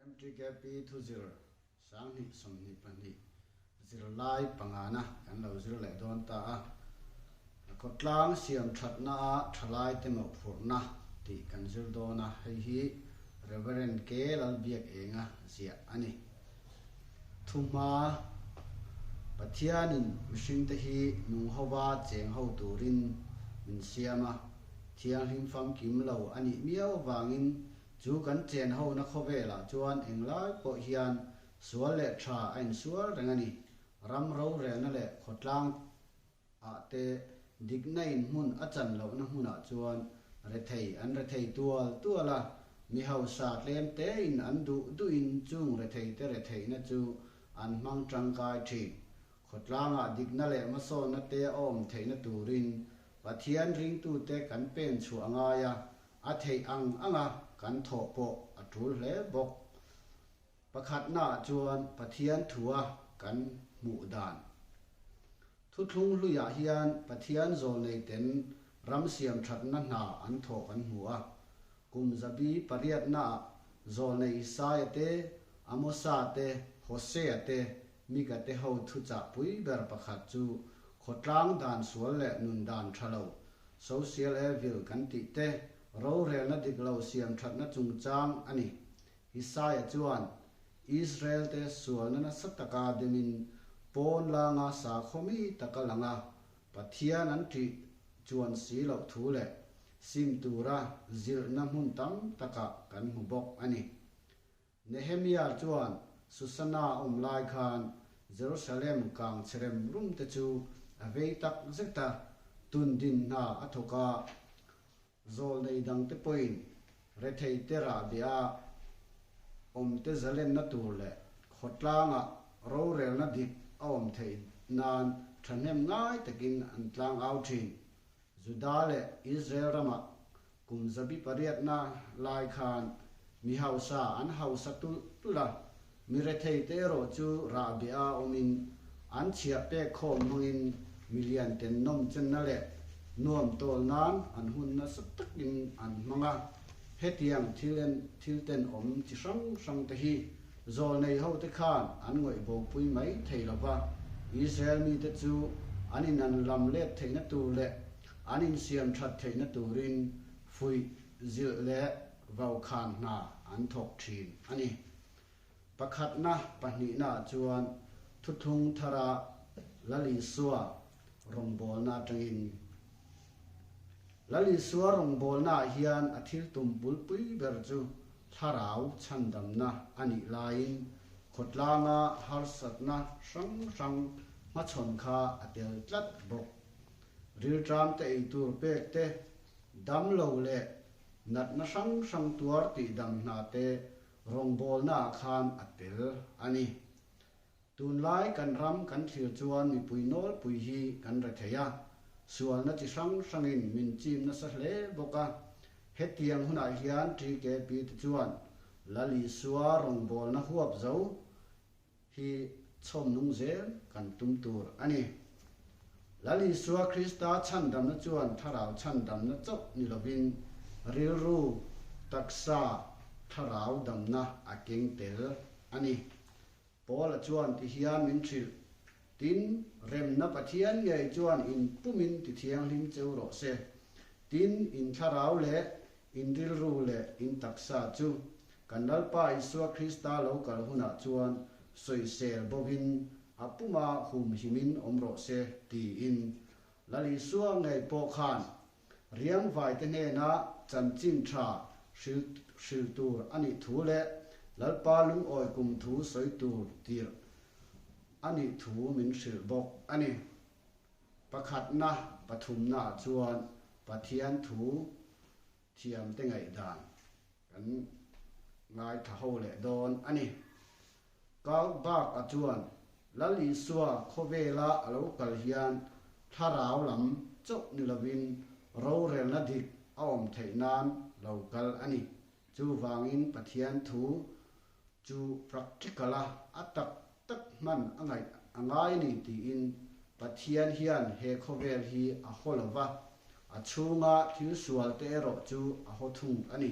Mdkp thu zir sanghnih sawmhnih pahnih zirlai pangana kan lo zir leh dawn ta a, khawtlang siam thatna a thalaite mawhphurhna tih kan zir dawn a, hei hi Rev. K. Lalbiak Enga ziah a ni. Thu hma, Pathianin mihringte hi nung hova cheng ho turin min siam a, thianghlim famkim lo a nih miau avangin Chu kan chen hona khawvelah chuan eng lai pawh hian sual leh tha a insual reng a ni. Ram rorelna leh khawtlang ah te dikna inhmun a chan lohna hmunah chuan rethei an rethei tual tual a, mi hausa tlem tein an duh duhin chung rethei te retheihna chu an hmang tangkai thin. Khawtlangah dikna leh hmasawnna te a awm theihna turin Pathian ringtute kan pen chhuah ngai a, A theih ang anga kan thawh pawh a tul hle bawk. Pakhatnaah chuan Pathian thua kan hmuh dan. Thuthlung hluiah hian Pathian zawl neite'n ram siam thatna hna an thawh kan hmu a. Kum zabi pariatnaah zawl nei Isaiate, Amosa te, Hosea te Migate ho thu chah pui ber pakhat chu khawtlang dan sual leh nun dan tha lo, social evil kan tih te, rorelna dik lo siam thatna chungchang a ni. Isaiah chuan, Israel te sualna nasa taka demin pawn langa sakhawi taka lang a, Pathian an ṭih chuan si loh thu leh sim tura zirhna hmun tam takah kan hmu bawk a ni. Nehemiah chuan Susana a awm lai khan Jerusalem kang che rem rum te chu a vei tak zet a, tun din hna a thawk a, zawl nei dang te pawhin rethei te rah bia a, awm te zalenna tur leh khawtlangah rorelna dik a awm theih nan thahnem ngai takin an tlang au thin. Juda leh Israel ramah kum zabi pariatna lai khan mi hausa an hausa tulh tulh a, mi retheite erawh chu rah bia awmin an chhiah pek khawm hmangin milian ten nawmchenna leh nuam tawl nan an hun nasa takin an hmang a. Hetiang thil en thilten awm chi hrang hrangte hi Zawl nei hote khan an ngawih bawmpui mai thei lo va, Israel mite chu an innan lam let theihna tur leh an insiam that theihna turin fuih, zilh leh vau khan hna an thawk thin a ni. Pakhatna pahnihnaah chuan thuthlung thara la lisua rawngbawlna atangin ni. Lalinsua rawngbawlnaah hian a thil tum bulpui ber chu thlarau chhandamna a nih laiin khawtlanga harsatna hrang hrang hmachhawn kha a tel tlat bawk. Rilṭam te ei tur pek te, damlo leh natna hrang hrang tuar tih dam hna te rawngbawlnaah khan a tel a ni. Tunlai kan ram kan thlir chuan mipui nawlpui hi kan re thei a, sualna chi hrang hrangin min chim nasa hle bawk a. Hetiang hunah hian ṭi ke pi te chuan Lalisua rawngbawlna huap zo hi chhawmnung zel kan tum tur a ni. Lalisua Krista chhandamna chuan thlarau chhandamna chauh ni lovin rilru, taksa, thlarau damna a keng tel a ni. Paula chuan ti hian min hrilh. Tin, remna Pathian ngei chuan in pumin ti thianghlim cheu rawh se. Tin, in thlarau leh in rilru leh in taksa chu kan Lalpa Isua Krista lo kal hunah chuan sawisel bawvin a puma humhimin awm rawh se tiin Lal Isua ngei pawh khan Riangvaite nena chanchin tha hril hril tur a nih thu leh Lalpa lungawi kum thu sawi tur tirh a nih thu min hrilh bawk a ni. Pakhatna pathumnaah chuan Pathian thu thiamte ngaihdan Kan ngaithla ho leh dawn a ni. Karl Barth-a chuan, Lal Isua khawvela a lo kal hian thlarau lam chauh ni lovin rorelna dik a awm theih nan lo kal a ni. Chuvangin Pathian thu Chu practical a a tak tak hman a ngaih a ngai ni tiin Pathian hian he khawvel hi a haw lo va, a chhunga thil sual te erawh chu a haw thung a ni.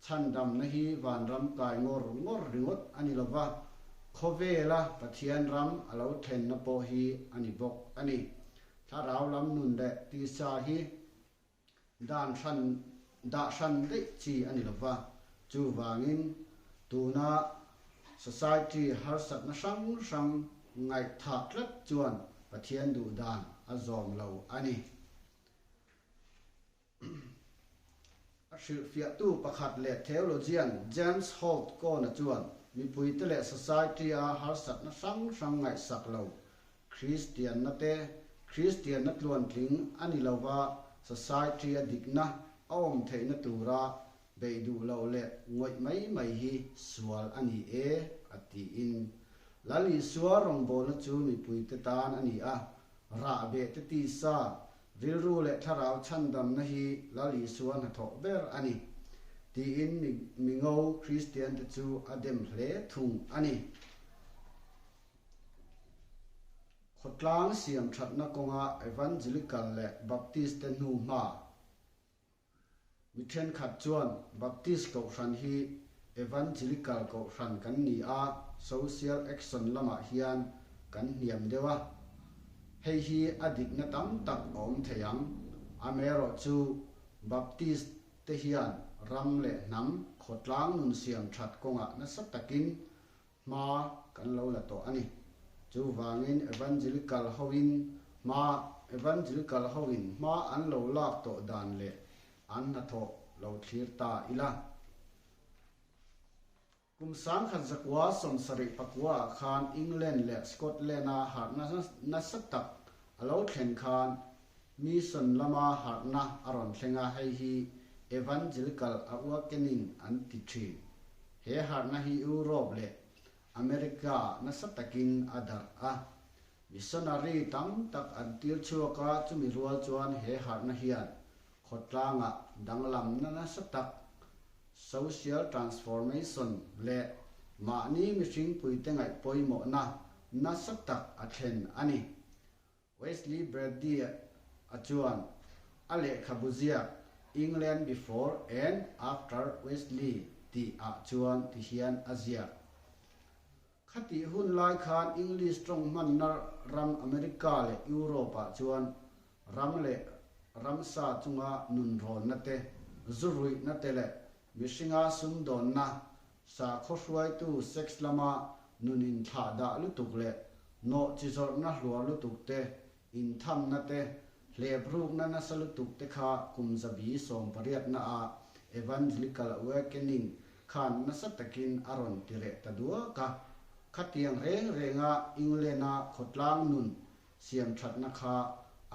Chhandamna hi vanram kai ngawr ngawr ringawt a ni lo va, khawvela Pathian ram a lo thlenna pawh hi a ni bawk a ni. Thlarau lam nun leh tisa hi dan hran dah hran daih chi a ni lo va, chuvangin tuna society harsatna hrang hrang ngaihthah tlat chuan Pathian duh dan a zawm lo a ni. A hrilhfiahtu pakhat leh theologian James Holt Kohn-a chuan mipuite leh society-a harsatna hrang hrang ngaihsak lo Kristianna te, Kristianna tluantling a ni lova Society a dikna a awm theihna tura beih duh loh leh ngawih mai mai hi sual a ni e, a tiin, Lalisua rawngbawlna chu mipuite tan a ni a, rah beh te tisa, rilru leh thlarau chhandamna hi Lalisua hnathawh ber a ni, tiin mi mi ngo Kristiante chu a dem hle thung a ni. Khawtlang siam thatna kawnga Evangelical leh Baptist te hnu hma mi thenkhat chuan Baptist Kohhran hi Evangelical Kohhran kan ni a, Social Action lamah hian kan hniam deuh a. Hei hi a dikna tam tak a awm thei ang. Amerawh chu Baptist te hian ram leh hnam khawtlang nun siam that kawngah nasa takin hma kan lo la tawh a ni. Chuvangin Evangil kal hoin hma Evangil kal hoin hma an lo lak tawh dan leh an hnathawh lo thlir ta ila. Kum sangkhat zakua sawm sarih pakua ah khan England leh Scotland a harhna nasa tak a lo thlen khan Mission lama harhna a rawn thleng a, hei hi Evangil kal a uak enin an ti thin. He harhna hi Europe leh America nasa takin a darh a. Missionary tam tak an tir chhuak a, chumi rual chuan he harhna hian khawtlanga danglamna nasa tak, social transformation, leh mahni mihring puite ngaih pawimawhna nasa tak a thlen a ni. Wesley Braddy-a chuan a lehkhabu ziak England Before and After Wesley tih ah chuan ti hian a ziak. Khatih hun lai khan English tawng hmanna ram America leh Europe ah chuan ram leh ramsa chunga nunrawnna te, zu ruihna te leh mihringa sumdawnna Sakhaw hruaitu sex lama nunin thlah dah lutuk leh nawhchi zawrhna hluar lutukte, inthamnate, hleprukna nasa lutukte kha kum zabi sawm pariatna a Evangelical Awakening khan nasa takin a rawn ti reh ta duak a. Khatiang reng renga England-a khawtlang nun siamthatna kha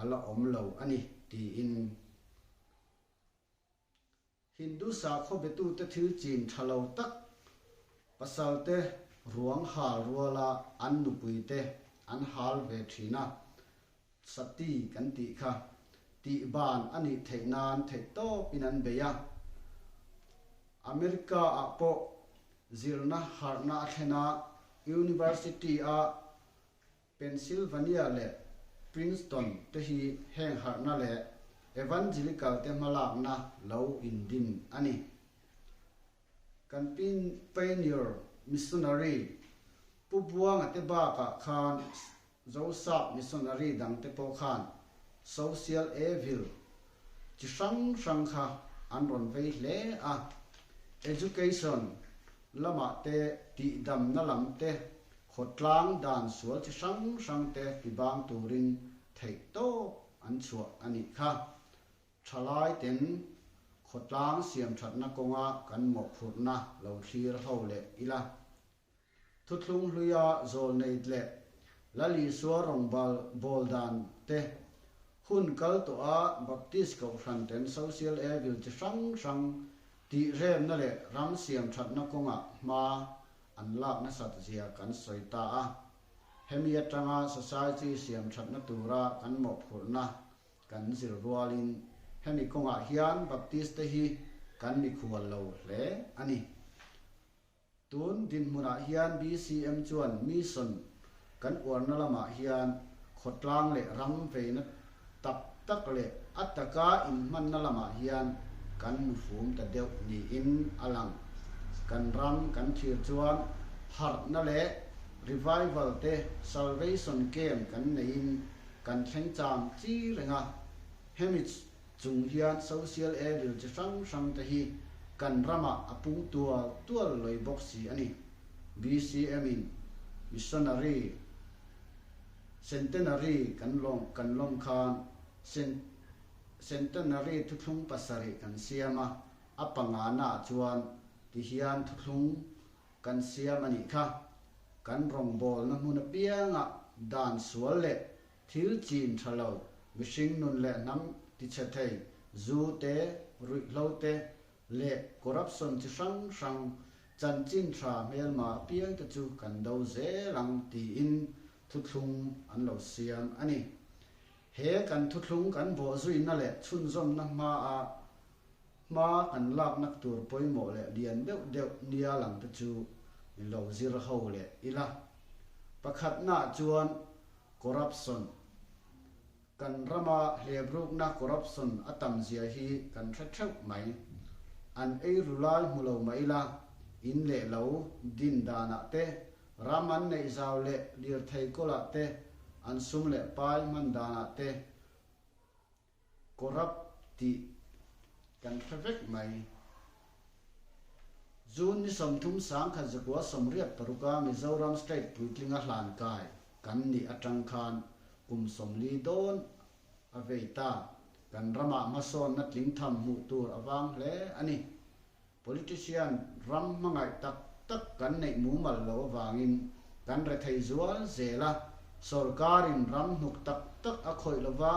a la awm lo a ni, tiin. Hindu sakhaw betute thil chin tha lo tak, pasalte ruang hal ruala an nupuite an hal ve thin a, Sati kan tih kha, tih ban a nih theih nan theih tawpin an bei a. America ah pawh zirna harhna a thlen a, University a, Pennsylvania leh Princeton te hi heng harhna leh Evangelical te hmalakna lo indin a ni. Kan pin pioneer, missionary, Pu Buanga te bakah khan Zosak missionary dang te pawh khan social evil chi hrang hrang kha an rawn vei hle a. Education lamah te tihdamna lam te Khawtlang dan sual chi hrang hrangte fibang turin theih tawp an chhuah a nih kha. Thalaiten khawtlang siamthatna kawnga kan mawhphurhna lo thlir ho leh ila. Thuthlung hluia zawlneit leh Lalisua rawngbal bawl dan te, hun kal tawha Baptist Kohhranten Social Evil chi hrang hrang, tihremna leh ram siamthatna kawnga hma an lak nasat zia kan sawi ta a, hemi atanga Society siam thatna tura kan mawhphurhna kan zir rualin hemi kawngah hian Baptiste-te hi kan mikhual lo hle a ni. Tun dinhmunah hian BCM chuan Mission Kan uarna lamah hian khawtlang leh rangveina tak tak leh a taka inhmanna lamah hian kan nufum ta deuh niin a lang. Kan ram, kan thlir chuan harhna leh Revival te Salvation Camp kan neiin kan thleng cham chi reng a. Hemich Chung hian social evil chi hrang hrang te hi kan ramah a pung tual tual loi bawk si a ni. BCM in Missionary Centenary kan lawm kan lawm khan Cen Centenary Thuthlung pasarih kan siam a, a panga nah chuan ti hian thuthlung kan siam a nih kha. Kan rawngbawlna hmun apiangah dan sual leh Thil chin tha lo, mihring nun leh hnam tichhe thei, zu te, ruihhlo te, leh corruption chi hrang hrang chanchin tha hmel mar piang te chu kan do zel ang tiin thuthlung an lo siam a ni. He kan thuthlung kan bawhzuina leh chhunzawmna hma ah, Hma an laknak tur pawimawh leh lian deuh deuh nia lang te chu i lo zir ho leh ila. Pakhatnah chuan corruption. Kan rama hlebrukna corruption a tam zia hi kan hre theuh mai. An ei ru lai hmu lo mah ila, in leh lo, din danah te, ram an neih zau leh lirthei kawlah te, an sum leh pai hman danah te, Corrupt tih kan hre vek mai. June ni sawmthum sang khat zakua sawmriat paruk a Mizoram State puitling a hlan kai kan nih atang khan kum sawmli dawn a vei ta. Kan ramah hmasawnna tlingtham hmuh tur a vang hle a ni. Politician ram hmangaih tak tak kan neih mumal lo avangin kan re thei zual zel a, sorkarin ram hnuk tak tak a khawih lova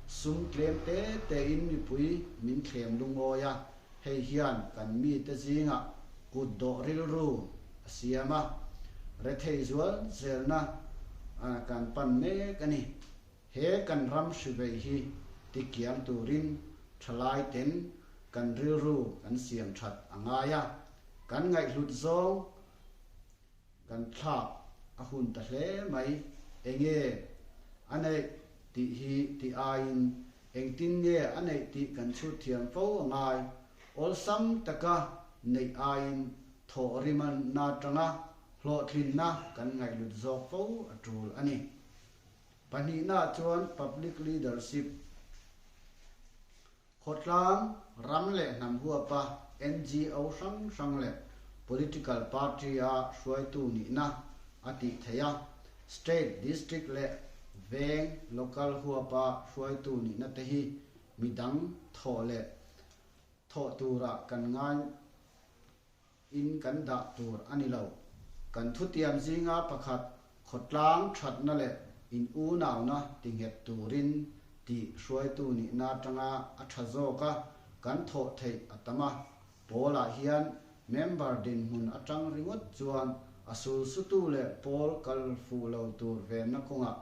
sum tlem te te in mipui min thlem lungawi a, hei hian kan mite zinga kut dawh rilru a siam a, re thei zual zelna kan pan mek a ni. He kan ram hrivei hi tikiang turin thalaiten kan rilru kan siam that a ngai a, kan ngaihhlut zawng kan thlak a hun ta hle mai. Enge a neih tih hi ti aiin engtin nge a neih tih kan chhut thiam fo a ngai. Awlsam taka neih aiin thawh rim a na tanga hlawhtlinna kan ngaihhlut zawk fo a tul a ni. Pahnihnaah chuan public leadership, khawtlang ram leh hnam huapa, NGO hrang hrang leh political party-a hruaitu nihna a tih theih a, state, district leh veng, local, huapa hruaitu nihna te hi midang thawh leh thawh tura kan ngai In kan dah tur a ni lo. Kan thutiam zinga pakhat khawtlang thatna leh in unauna tinghet turin tih hruaitu nihna atanga a tha zawk a, kan thawh theih a tam a. Pawlah hian member dinhmun atang ringawt chuan a sulsutu leh pawl kal fuh lo tur venna kawngah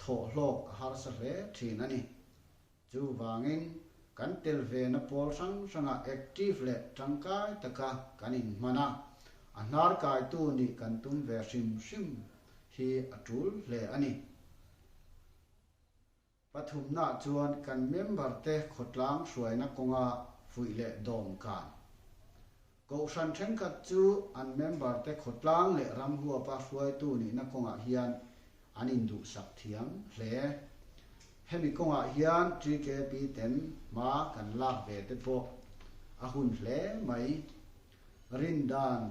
thawh hlawk a harsa hle thin a ni. Chuvangin, kan tel ve na pawl hrang hranga active leh tangkai taka kan in hman a, a hnarkai tu nih kan tum ve hrim hrim hi a tul hle a ni. Pathumna chuan kan member te khawtlang hruaina kawnga fuih leh dawm kan Kohhran thenkhat chu an member te khawtlang leh ram huapa hruaitu nihna kawngah hian an induhsak thiam hle. Hemi kawngah hian GKP ten hma kan lak ve te pawh a hun hle mai. Rindan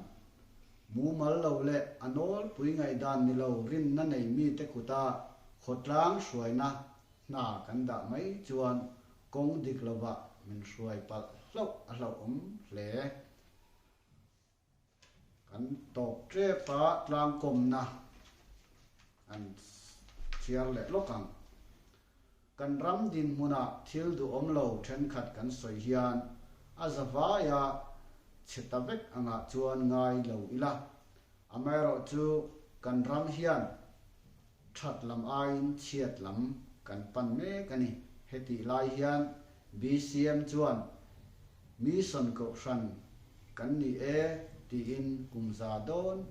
mumal lo leh a nawlpui ngaihdan ni lo rinna nei mi te kuta khawtlang hruaina hna kan dah mai chuan Kawng dik lovah min hruai palh hlauh a hlauhawm hle. Kan tawp tep a tlangkawmna an thiar leh lawk ang. Kan ram dinhmunah thil duhawm lo thenkhat kan sawi hian a zavaia chhe ta vek angah chuan ngai lo ila. Amaherawhchu kan ram hian. That lam aiin chhiat lam kan pan mek a ni. Hetih lai hian BCM chuan Mission Kohhran kan ni e tiin kum za dawn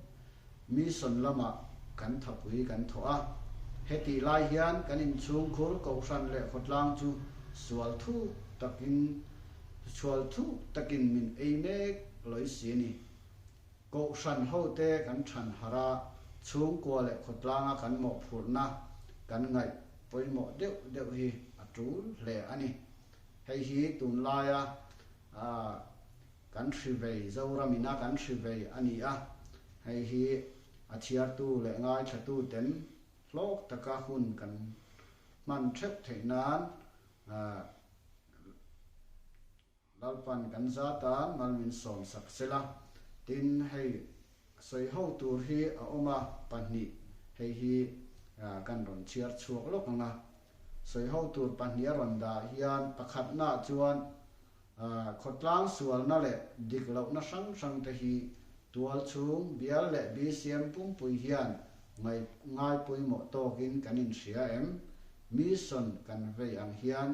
Mission lamah kan thapui kan thawh a. Hetih lai hian kan inchhungkhur Kohhran leh Khawtlang chu sual thuk takin sual thuk takin min ei mek loisi a ni. Kohhran hote kan thanhar a, chhungkua leh khawtlanga kan mawhphurhna, kan ngaih pawimawh deuh deuh hi a tul hle a ni. Hei hi tunlaia kan hrivei, Zoramiina kan hrivei a ni a, hei hi a chhiartu leh ngaithlatuten hlawk taka hun kan hman theuh theih nan, Lalpan kan zata ngal min sawm sak se la, tin hei sawi ho tur hi a awm a, pahnih hei hi kan rawn chhiar chhuak lawk ang a, sawi ho tur pahnih a rawn dah hian pakhatnah chuan khawtlang sualna leh dik lohna hrang hrang te hi tual chhung bial leh BCM pumpui hian ngai ngai pawimawh tawkin kan inhria em? Mission kan vei ang hian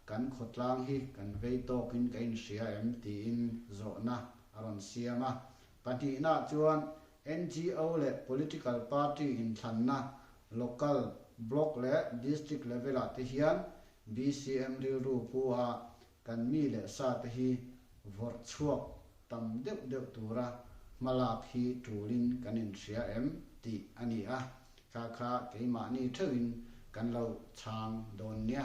Kan khawtlang hi kan vei tawkin ka inhria em? tiin zawhna a rawn siam a. Pahnihnah chuan NGO leh political party inthlanna local, block leh district level ah te hian BCM rilru pu a kan mi leh sa te hi vawrh chhuak tam deuh deuh tura hmalak hi tulin kan inhria em? tih a ni a. Ka kha keimahni theuhin kan lo chhang dawn nia.